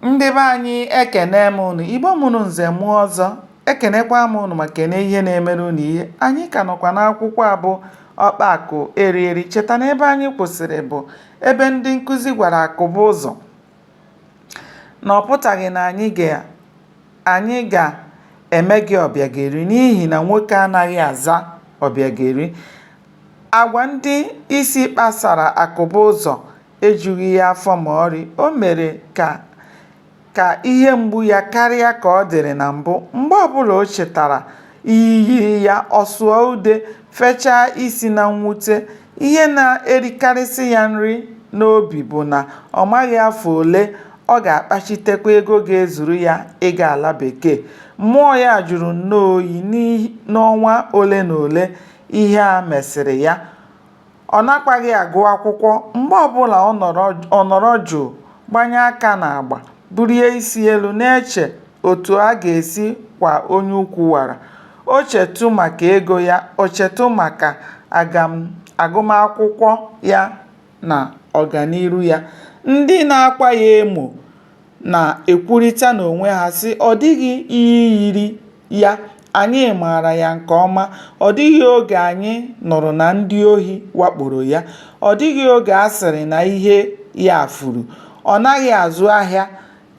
ndị be anyị ekene m ụnụ igbo mụrụ nze mụọ ọzọ ekenekwa m ụnụ ma kene ihe na-emere ụnụ ihe anyị ka nọkwa n'akwụkwọ a bụ ọkpa akụ eri eri cheta na ebe anyị kwụsịrị bụ ebe ndị nkụzi gwara akụbuụzọ na ọ pụtaghị na anyị ga-eme gị ọbịageri n'ihi na nwoke anaghị aza ọbịageri agwa ndị isi kpasara akụbuụzọ ejughị ya afọ ma ọrị, o mere ka ihe mgbu ya karịa ka ọ dịrị na mbụ. Mgbe ọbụla o chetara iyi yiri ya, ọ sụọ ude, fechaa isi na mwute. Ihe na-erikarịsị ya nri n'obi bụ na ọ maghị afọ ole ọ ga-akpachitekwa ego ga-ezuru ya ịga ala bekee. Mmụọ ya jụrụ nnọọ oyi n'ọnwa ole na ole ihe a mesịrị ya. Ọ nakwaghị agụ akwụkwọ. Mgbe ọ bụla ọ nọrọ jụụ, gbanye aka n'agba, bulie isi elu na-eche otu a ga-esi kwa onye ukwu wara. O chetụ maka ego ya, o chetụ maka agụmakwụkwọ ya na ọganiru ya. Ndị na-akwa ya emo na-ekwurịta n'onwe ha, sị, Ọ dịghị iyi yiri. ya, anyị maara ya nke ọma, ọ dịghị oge anyị nụrụ na ndị ohi wakporo ya, ọ dịghị oge a sịrị na ihe ya furu. Ọ naghị azụ ahịa,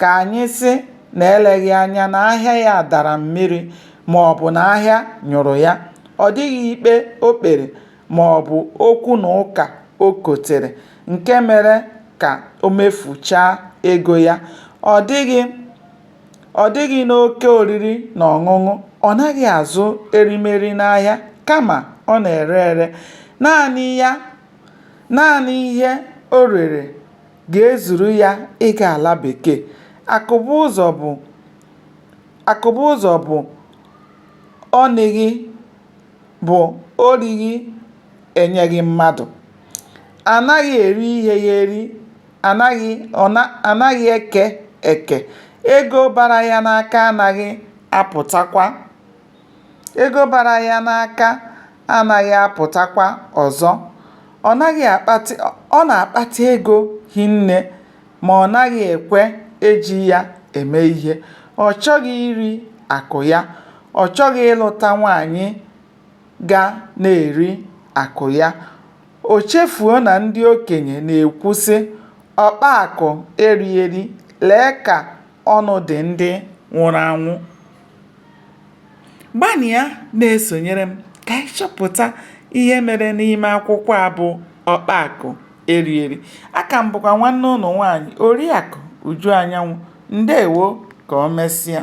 ka anyị sị na eleghị anya na ahịa ya dara mmiri ma ọ bụ na ahịa nyụrụ ya. Ọ dịghị ikpe o kpere ma ọ bụ okwu na ụka o kotere nke mere ka o mefuchaa ego ya. Ọ dịghị Ọ dịghị n'oke oriri na ọṅụṅụ, ọ naghị azụ erimeri n'ahịa kama ọ na-ere ere naanị ihe o rere ga-ezuru ya ịga ala bekee. Akụbuụzọ bụ ọ nịghị bụ o righị enyeghị mmadụ. A naghị eri ihe ya eri anaghị eke eke ego bara ya n'aka anaghị apụtakwa ego bara ya n'aka anaghị apụtakwa ọzọ ọ na-akpata ego hinne ma ọ naghị ekwe eji ya eme ihe ọ chọghị iri akụ ya ọ chọghị ịlụta nwaanyị ga na-eri akụ ya. O chefuo na ndị okenye na-ekwu sị, ọkpa akụ eri eri, lee ka ọnụ dị ndị nwụrụ anwụ. Gbanịa na-esonyere m ka anyị chọpụta ihe mere n'ime akwụkwọ a bụ ọkpa akụ eri eri. Aka m bụkwa nwanne ụnụ nwaanyị Oriakụ Uju Anyanwụ. Ndeewo. Ka o mesịa.